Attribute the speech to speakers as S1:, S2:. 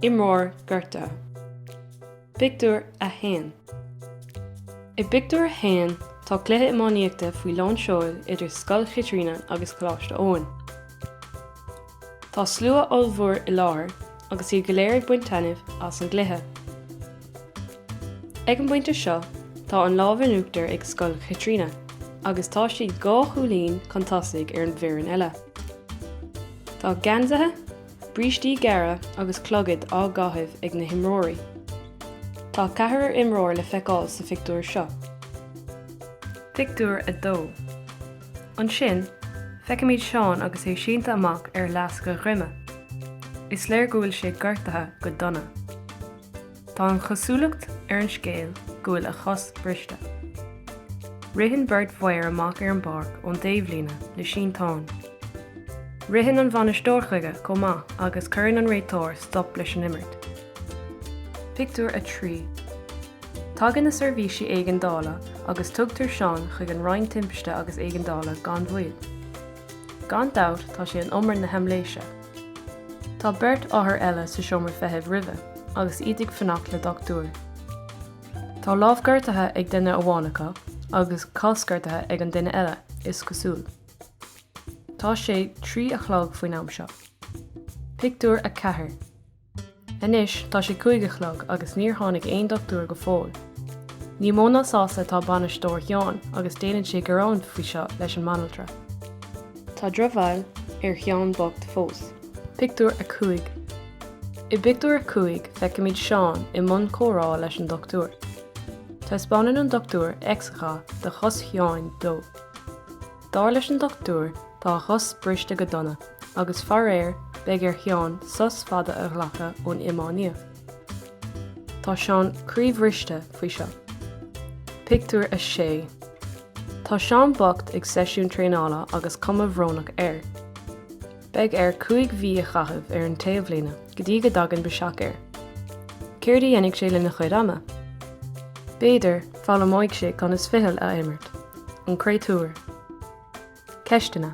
S1: Imreoir gortaithe. Pictiúr a 1 I bpictiúr a haon, tá cluiche iománaíochta faoi lán seoil idir Scoil Chaitríona agus Coláiste Eoin. Tá slua ollmhór i láthair agus iad go léir ag baint taitnimh as an gcluiche. Ag an bpointe seo tá an lámh in uachtar ag Scoil Chaitríona agus tá siad dhá chúilín chun tosaigh ar an bhfoireann eile. Tá geansaithe, brístí gearra agus clogaid á gcaitheamh ag na himreoirí. Tá ceathrar imreoir le feiceáil sa phictiúr seo. Pictiúr a 2 Ansin, feicimid Seán agus é sínte amach ar fhleasc a dhroime. Is léir go bhfuil sé gortaithe go dona. Tá an chosúlacht ar an scéal go bhfuil a chos briste. Ritheann beirt fhear amach ar an bpáirc ón dtaobhlíne le sínteán. Ritheann an bhainisteoir chuige chomh maith agus cuireann an réiteoir stop leis an imirt. Pictiúr a 3 Tagann na seirbhísí éigeandála agus tugtar Seán chuig an Roinn Timpiste agus Éigeandála gan mhoill. Gan dabht tá sé in umar na haimléise. Tá beirt othar eile sa seomra feithimh roimhe agus iad ag fanacht le dochtúir. Tá lámh gortaithe ag duine amháin acu agus cos gortaithe ag an duine eile, is cosúil. Tá sé trí a chlog faoin am seo. Pictiúr a 4 Anois tá sé cúig a chlog agus níor tháinig aon dochtúir go fóill. Ní mó ná sásta atá bainisteoir Sheáin agus déanann sé gearán faoi seo leis an mbanaltra. Tá drochbhail ar Sheán bocht fós. Pictiúr a 5 I bpictiúr a cúig feicimid Seán i mbun comhrá leis an dochtúir. Taispeánann an dochtúir x-gha de chos Sheáin dó. Dar leis an dochtúir, tá a chos briste go dona, agus faraor, beidh ar Sheán sos fada a ghlacadh ón iománaíocht. Tá Seán croíbhriste faoi seo. Pictiúr a 6 Tá Seán bocht ag seisiún traenála agus cuma bhrónach air. Beidh air cúig mhí a chaitheamh ar an taobhlíne go dtí go dtagann biseach air. Céard a dhéanfaidh sé lena chuid ama? B'fhéidir, foghlaimeoidh sé conas fichill a imirt. An créatúr. Ceisteanna.